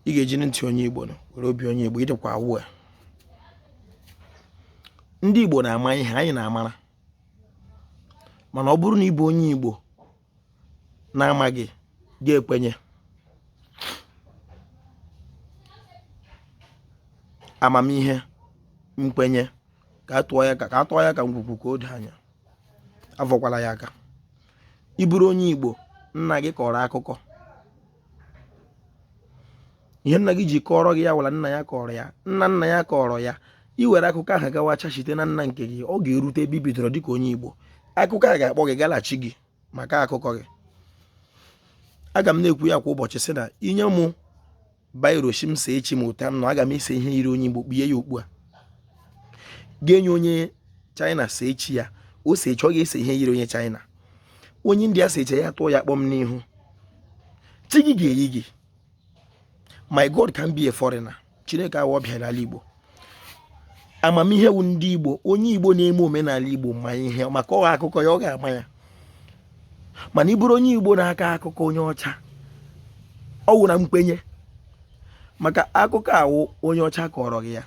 ị ga-eji ntị onye Igbo nụ were obi onye Igbo ịdịkwa awụ a ndị Igbo na-ama ihe anyị na-amara mana ọ bụrụ na ị bụ onye Igbo na-amaghị ga-ekwenye amamihe nkwenye ka a tọọ ya ka ngwugwu ka o doo anya avọkwala ya aka ị bụrụ onye Igbo nna gị kọrọ akụkọ ihe nna gị ji kọọrọ gị ya wụ la nna ya kọrọ ya nna nna ya kọrọ ya i were akụkọ ahụ gawacha site na nna nke gị ọ ga-erute ebe i bidoro dịka onye Igbo akụkọ a ga-akpọ gị gaa la chi gị maka akụkọ gị aga m na-ekwu ya kwa ụbọchị sị na i nye mụ biro shị m see chi m otu a m nọ aga m ese ihe yiri onye Igbo kpie ya okpu agụ e nye onye China see chi ya o see chi ọ ga-ese ihe yiri onye China onye India see chi ya tụọ ya kpọm n'ihu chi gị ga-eyi gị my god can't be a foreigner chineke awụ ọbịa n'ala igbo amamihe wụ ndị igbo onye igbo na-eme omenala igbo ma ihe maka ọ wụ akụkọ ya ọ ga-ama ya mana ị bụrụ onye igbo na-aka akụkọ onye ọcha ọ wụ na nkwenye maka akụkọ awụ onye ọcha kọrọ gị ya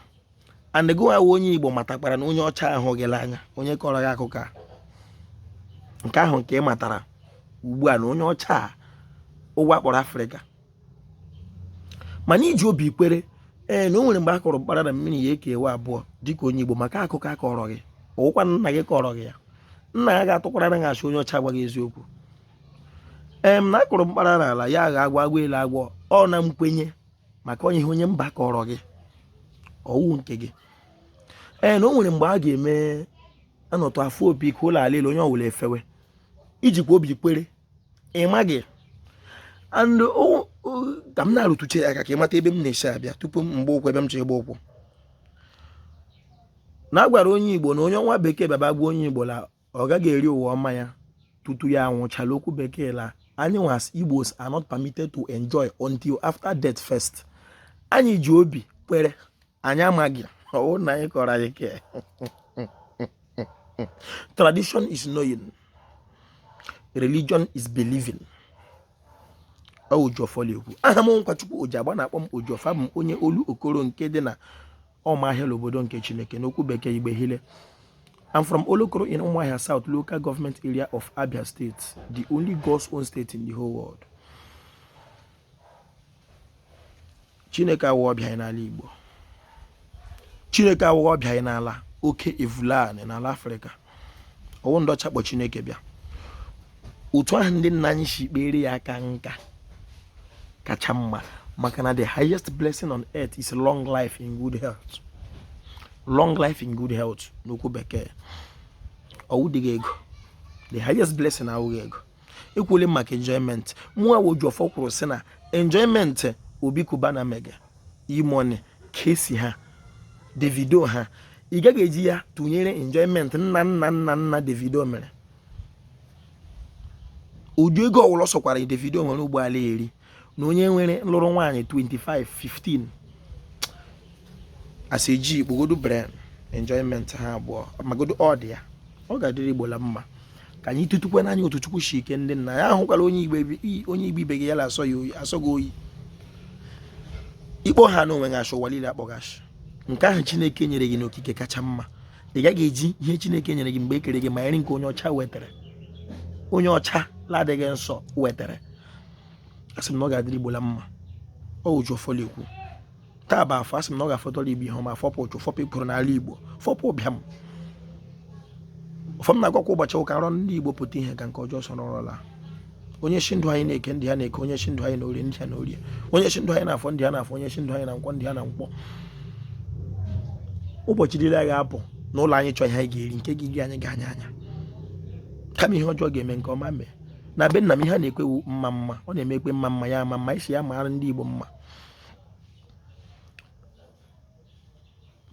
and gị wa wụ onye igbo matakwara na onye ọcha ahụ gị n'anya onye kọrọ gị akụkọ a nke ahụ nke ị matara ugbu a na onye ọcha a ụwa kpọrọ afrịka mana i ji obi kwere ee na o nwere mgbe a kụrụ mkpara na mmiri ya ekewaa abụọ dịka onye igbo maka akụkọ a kọrọ gị ọwụkwa nna gị kọrọ gị ya nna ya ga-atụkwara na a sị onye ọcha gwa gị eziokwu em na a kụrụ mkpara n'ala ya aghọọ agwọ agwọ eloo agwọ ọ na nkwenye maka onye ihe onye mba kọrọ gị ọwụ nke gị ee na o nwere mgbe a ga-eme a nọtụ a fụọ opi ike ụlọ ala elu onye ọwụla efewe i jikwa obi kwere ị maghị and ka m na-arụtụcha ya aka ka ị mata ebe m na-esi abịa tupu m gbaa ụkwụ ebe m chọrọ ịgba ụkwụ na a gwara onye igbo na onye nwa bekee bịa gwa onye igbo na ọ gaghị eri ụwa ọma ya tutu ya anwụchaa la okwu bekee la anyị wa as igbos are not permitted to enjoy until after death first anyị ji obi kwere anyị amaghị ọwụ nna anyị kọrọ anyị ke tradition is knowing religion is believing ọwụ Ojiọfọ na-ekwu aha m Nkwachukwu Ojiagba a na-akpọ m Ojiọfọ abụ m onye Olokoro nke dị na Ọmahịa obodo nke Chineke n'okwu bekee Igbe Hile. I'm from Olokoro in Umuahia South local government area of Abia State, the only God's own state in the whole world. Chineke awụ ọbịa anyị n'ala Igbo. Chineke awụ ọbịa anyị n'ala Alkebulan n'ala Afrịka. ọwụ ndị ọcha kpọ chineke bịa otu ahụ ndị nna anyị shi kpere ya aka nka kacha mma maka na the highest blessing on earth is long life in good health long life in good health n'okwu bekee ọ wụdịghị ego the highest blessing awụghị ego ekwuole m maka enjoyment mụa wụ Ojiọfọ kwuru sị na enjoyment Obi Cubana mege E-Money Kcee ha Davido ha ị gaghị eji ya tụnyere enjoyment nna nna nna nna Davido mere ụdị ego ọwụla ọ sọkwara Davido nwere ugbu a la-eri na onye nwere lụrụ nwaanyị 25 15 as a G kpogodu brain enjoyment ha abụọ magodo ọ dị ya ọ ga-adịrị Igbo la mma ka anyị tutukwe n'anya otu Chukwu shi kee ndị nna ya ahụkwala onye Igbo ibe gị ya la asọ ya oyi asọ gị oyi ị kpọhana onwe gị ashị ụwa niile akpọ gị ashị nke ahụ Chineke nyere gị n'okike kacha mma ị gaghị eji ihe Chineke nyere gị mgbe e kere gị ma eri nke onye ọcha wetara onye ọcha ladịghị nsọ wetara asị m na ọ ga-adịrị Igbo la mma ọ wụ Ojiọfọ la-ekwu taa bụ afọ asị m na ọ ga-afọtọrọ Igbo ihe ọma fọpụ ụchụ fọpụ ekworo n'ala Igbo fọpụ ụbịam ụfọdụ na-agwakwa ụbọchị ụka anọ ndị Igbo pụta ihe ka nke ọjọọ sọrọ ọrọla onye shị ndụ anyị na eke ndụ ha na eke onye shị ndụ anyị na orie ndụ ha na orie onye shị ndụ anyị na afọ ndụ ha na afọ onye shị ndụ anyị na nkwọ ndụ ha na nkwọ ụbọchị niile a ga-apụ n'ụlọ anyị chọọ ihe anyị ga-eri nke ga-eri anyị ga anya anya kama ihe ọjọọ ga-eme nke ọma mee na be nna m ihe a na-ekwe wụ mma mma ọ na-eme e kwe mma mma ya ama mma a sị ya maara ndị Igbo mma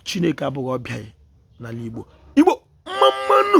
Chineke abụghị ọbịa n'ala Igbo Igbo mma mma nụ